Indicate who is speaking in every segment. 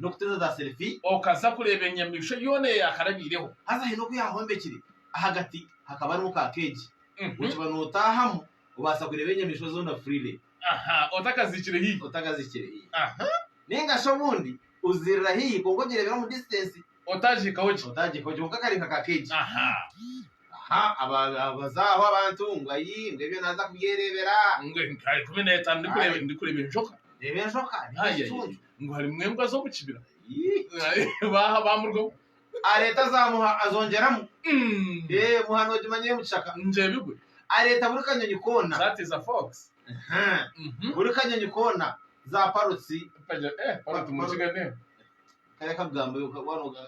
Speaker 1: n'okuteeza za selfie. Okaza kureeba
Speaker 2: enyamaishwa yoona ei yaakarabaireho. Haza haine oku yaahombekire,
Speaker 1: ahagati hakaba harimu ka keegi. Okiba nootaahamu, obaasa kureeba enyamaishwa zoona freely. Ahaa, otakaziikire
Speaker 2: haihi. Otakaziikire haihi.
Speaker 1: Nainga shi obundi ozirira haihi kwonka ogireebera omu distance. Otaagihikaho gye.
Speaker 2: Otaagihikaho gye, kwonka kari nka ka
Speaker 1: keegi. Ahaa, abaza aho abantu ngu ayii, ngu ebyo naaza kubyereebera. Ngu enkaari ikumi
Speaker 2: n'etaano ndi kureeba enjoka. Reeba enjoka, reeba ekicuncu. ngu harimu embwa z'omu kibira. Ii, baaha baamurugamu. Areeta zaamuha
Speaker 1: azongyeramu. Mm. Ee, muha noogimanya ey'omu kishaka. Ngyebigwe.
Speaker 2: Areeta buri kanyonyi
Speaker 1: koona. That is a fox. Aha.
Speaker 2: Mhm.
Speaker 1: Buri kanyonyi koona, za parotsi. Paja, eh, paroti mu
Speaker 2: Kiga n'embwa. Kare
Speaker 1: kakugambeyo, ka- waaba nooga-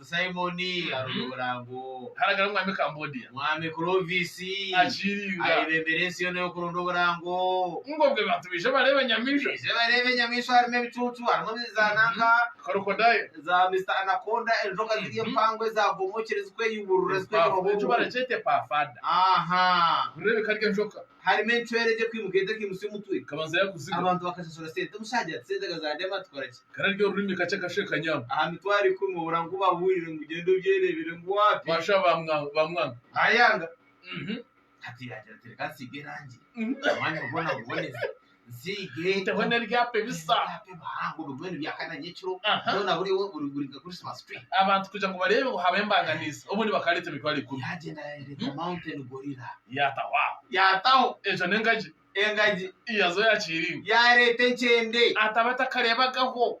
Speaker 2: Simoni
Speaker 1: arunga omurango. Haragara Omwami
Speaker 2: Kambodia. Mwami Clovis
Speaker 1: Akiringa.
Speaker 2: ayebembera ensi yoona
Speaker 1: y'okurunda oburango. Ngobwe bantu
Speaker 2: baije bareeba enyamaishwa. Baije bareeba enyamaishwa harimu ebicucu,
Speaker 1: harimu ebizaananka, Crocodile. za
Speaker 2: Mister Anaconda,
Speaker 1: enjoka ziri empango ezaabomokire zirikweyuburura zirikweyubura Eki obwongo. barakyeta
Speaker 2: epafada. Aha. Nibireebeka ari enjoka. Harimu encwera egye
Speaker 1: kwimuka ete ekaimutsya omutwe. Kabanza yakuziga. Abantu
Speaker 2: bakashashura sente.
Speaker 1: Omushanja ati sente kazadema tukora ki? Kare arya orurimi kakye
Speaker 2: akashweka nyama. Aha mitwaro ikumi obura
Speaker 1: ngu bahurire ngu gyenda obyerebere ngu wapi. Bashwa
Speaker 2: bamwanga. Ayanga.
Speaker 1: Hati yagira ati reka nsiige erangi omwanya gwoona guboneze. Ziteho n'ebyapa
Speaker 2: ebisa.
Speaker 1: Aha. abantu kugira ngu bareebe ngu
Speaker 2: habaho embanganizi obundi bakaba bareeta emitwaro ikumi
Speaker 1: yaataho aho yataho
Speaker 2: egyo n'engagi engagi yazo yakihiringa yareeta enkyende
Speaker 1: ataba atakareebagaho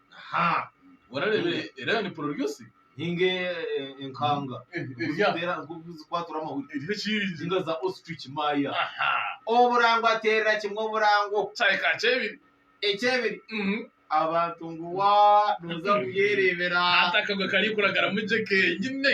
Speaker 2: Aha. Boona reeba era ni pororyosi. Ninga
Speaker 1: eh, enkanga Eh, erya. ziteera nk'oku zikwatura amahuri Eriho ekingi. ninga za ostrich maya Aha. oburango ateerera
Speaker 2: kimwe oburango
Speaker 1: Kyahika aha kyebiri.
Speaker 2: ekyebiri
Speaker 1: Mhm. abantu ngu wa nooza kuyereebera Hati akagwe
Speaker 2: karikuragaramu gye kenyine.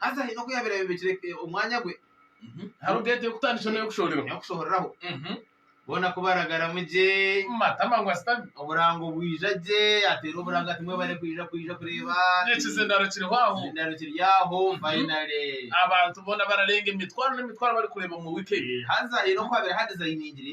Speaker 2: haza haine oku yaabaire
Speaker 1: ayomekire omwanya gwe. Hariho ente
Speaker 2: y'okutandikira n'ey'okushooreraho. N'ey'okushooreraho.
Speaker 1: Boona ku baragaramu gye. Matama ngu asitami.
Speaker 2: Oburango bwija
Speaker 1: gye, ateera oburango ati, Mwebare kwija, kwija kureeba. N'ekizindaro kiriho
Speaker 2: aho. Ekizindaro kiri aho
Speaker 1: fayinale. Abantu boona
Speaker 2: bararenga emitwaro n'emitwaro barikureeba omu wiiki eyo. Haza haine oku haabaire
Speaker 1: haadizayiningire.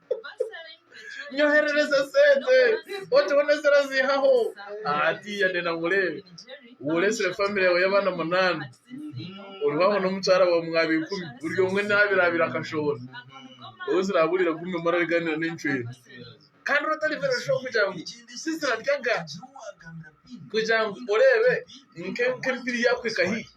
Speaker 2: Nyoherereza sente oteho nezira zihaho hatiya ndenda nkureebe woresire famire yawe y'abaana munani oriho aho n'omukyara wawe mwaba ikumi buri omwe nabirabira akashohora wowe oziraburire gumire omwe arariganira n'encwera kandi ori otaribire shuwa kugira ngu tiziraryaga kugira ngu oreebe nk'empiri yakuhika haihi.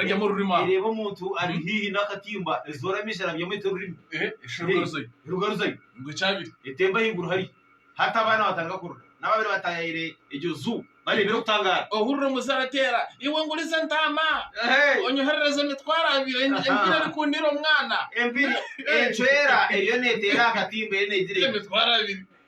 Speaker 1: Ereeba
Speaker 2: omuntu ari
Speaker 1: haihi n'akatimba, ezoora amaisho arabyamu eta orurimi, erugaruzayo,
Speaker 2: etemba ahaiguru hariya.
Speaker 1: Hati abaana batandika kurira. N'ababaire bataayaire egyo nju bareebire kutangaara. Ohurira omuze arateera,
Speaker 2: Iwe nguriza entaama, onyoherereze emitwaro abiri, empiri erikundiire omwana. Empiri
Speaker 1: encwera eriyo neeteera aha katimba eriyo neegira eti. Emitwaro abiri!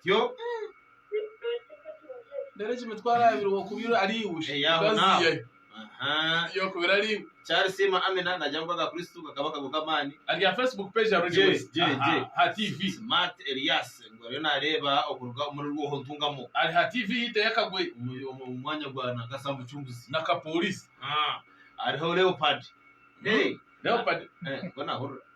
Speaker 1: Ityo
Speaker 2: Reero eki mitwaro abiri w'okubire ari iwe. Eh, yaho Kazi naho. ye. Aha. Y'okubire ari iwe. Charles Sima Amina
Speaker 1: nagira ngu aga Kristo gakaba akago k'amaani. Ari aha Facebook page
Speaker 2: ya Roger Gye, West. gye, Aha, gye. Ha TV. Smart Elias
Speaker 1: ngu ariyo naareeba okuruga omuri Rwoho Ntungamo Ari ha TV y'eita
Speaker 2: y'akagwe omu omu mwanya gwa
Speaker 1: Nakasa Mucunguzi. na kapolisi.
Speaker 2: Ah, hariho
Speaker 1: Leopard. Eh,
Speaker 2: Leopard. eh, niko naahurira.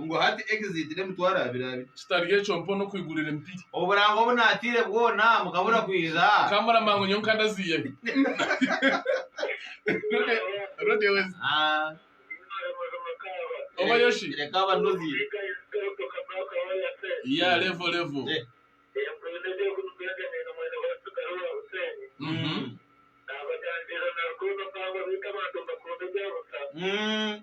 Speaker 1: Ngu hati exit n'emitwaro abiri abiri. Kitari ekyo mpone
Speaker 2: okwigurira empiri. Oburanga obu naataire
Speaker 1: bwona mukabura kwija. Ka murama ngu nyowe
Speaker 2: nkandaziya bi. Rode wezi. Ah. Oba yoshi. Reka
Speaker 1: abanozi.
Speaker 2: Yeah level level. Eh. Mhm. Mm.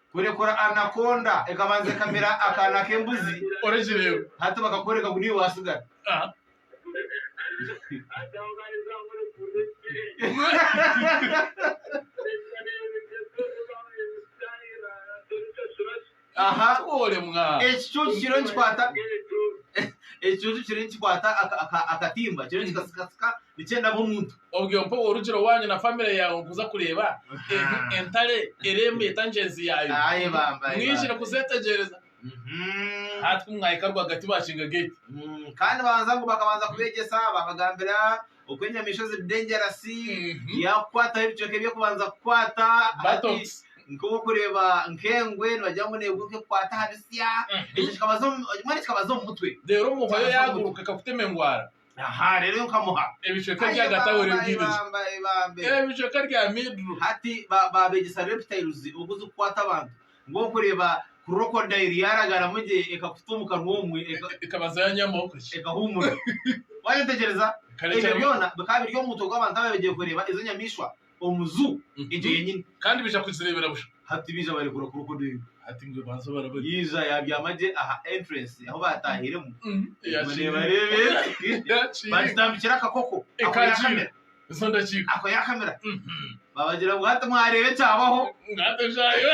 Speaker 1: Kurekura anaconda ekabanza ekamira akaana k'embuzi hati
Speaker 2: bakakworeka ngu
Speaker 1: niiwe
Speaker 2: watsigara.
Speaker 1: Ekicucu kiriyo nikikwata akatimba kiriyo nikikatsikatsika Nikyenda ngu omuntu. Obwe mpa orugire
Speaker 2: owanyu na family yawe kuza kureeba entare eremeeta ngyenzi yaayo. Mwihire
Speaker 1: kuzetegyereza.
Speaker 2: Hati ku mwahika rwagati bakinga gate. Kandi banza
Speaker 1: ngu bakabanza kubegyesa babagambira oku enyamaishwa ziri dangerous, yakukwataho ebicweka ebi okubanza kukwata. Buttocks.
Speaker 2: Nkobu orikureeba
Speaker 1: nk'engwe nibagira ngu negwe ku ekukwata aha bitsya. Ekyo kikabaza omu, mbwenu kikabaza omu mutwe. Reero omu hwayo yaguruka
Speaker 2: ekakutema engwara. aha rero yo
Speaker 1: nkamuha Ebicweka Aye bya Data
Speaker 2: we bamba, aye Rwigirija. bamba, aye bamba.
Speaker 1: Ebicweka rya
Speaker 2: Midru. hati ba- babegyesa
Speaker 1: reptiles ogu zikukwata abantu ngu orikureeba crocodile yaaragaramu gye ekakuta omu kanwa omwe eka- Ekabaza ya nyama
Speaker 2: okuki. ekahuumura
Speaker 1: waayetegyereza Kare ebyo kare- byona
Speaker 2: bikaba biri omu
Speaker 1: mutwe gw'abantu ababaire bagiye kureeba ezo nyamaishwa omu zu egyo yenyini. Kandi baija kuzireebera
Speaker 2: busha. Hati baija barekura
Speaker 1: crocodile. Hati mbwe banza obara
Speaker 2: bari. Yaija yabyama gye
Speaker 1: aha entrance ahu baatahiremu. Obwo
Speaker 2: neebareeba ezi.
Speaker 1: Bagitambikira
Speaker 2: akakoko.
Speaker 1: Ako yaakamira.
Speaker 2: Ezo ndakiika. Ako yaakamira.
Speaker 1: Baabagira ngu hati mwareeba ekyabaho. Ngu hati eshaaha yo.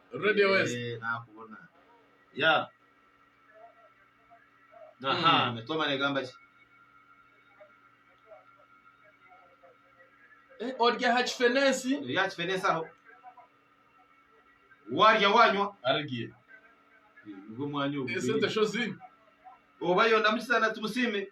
Speaker 2: Radio West. Eh, nakubona
Speaker 1: ya aha Mm. mitoma negamba ki
Speaker 2: Eh, orya aha kifenensi ya kifenesi aho
Speaker 1: warya wanywa arigiye
Speaker 2: nibwo
Speaker 1: mwanya ogu esente sho
Speaker 2: zimwe oba
Speaker 1: yondamukiza na tumusiime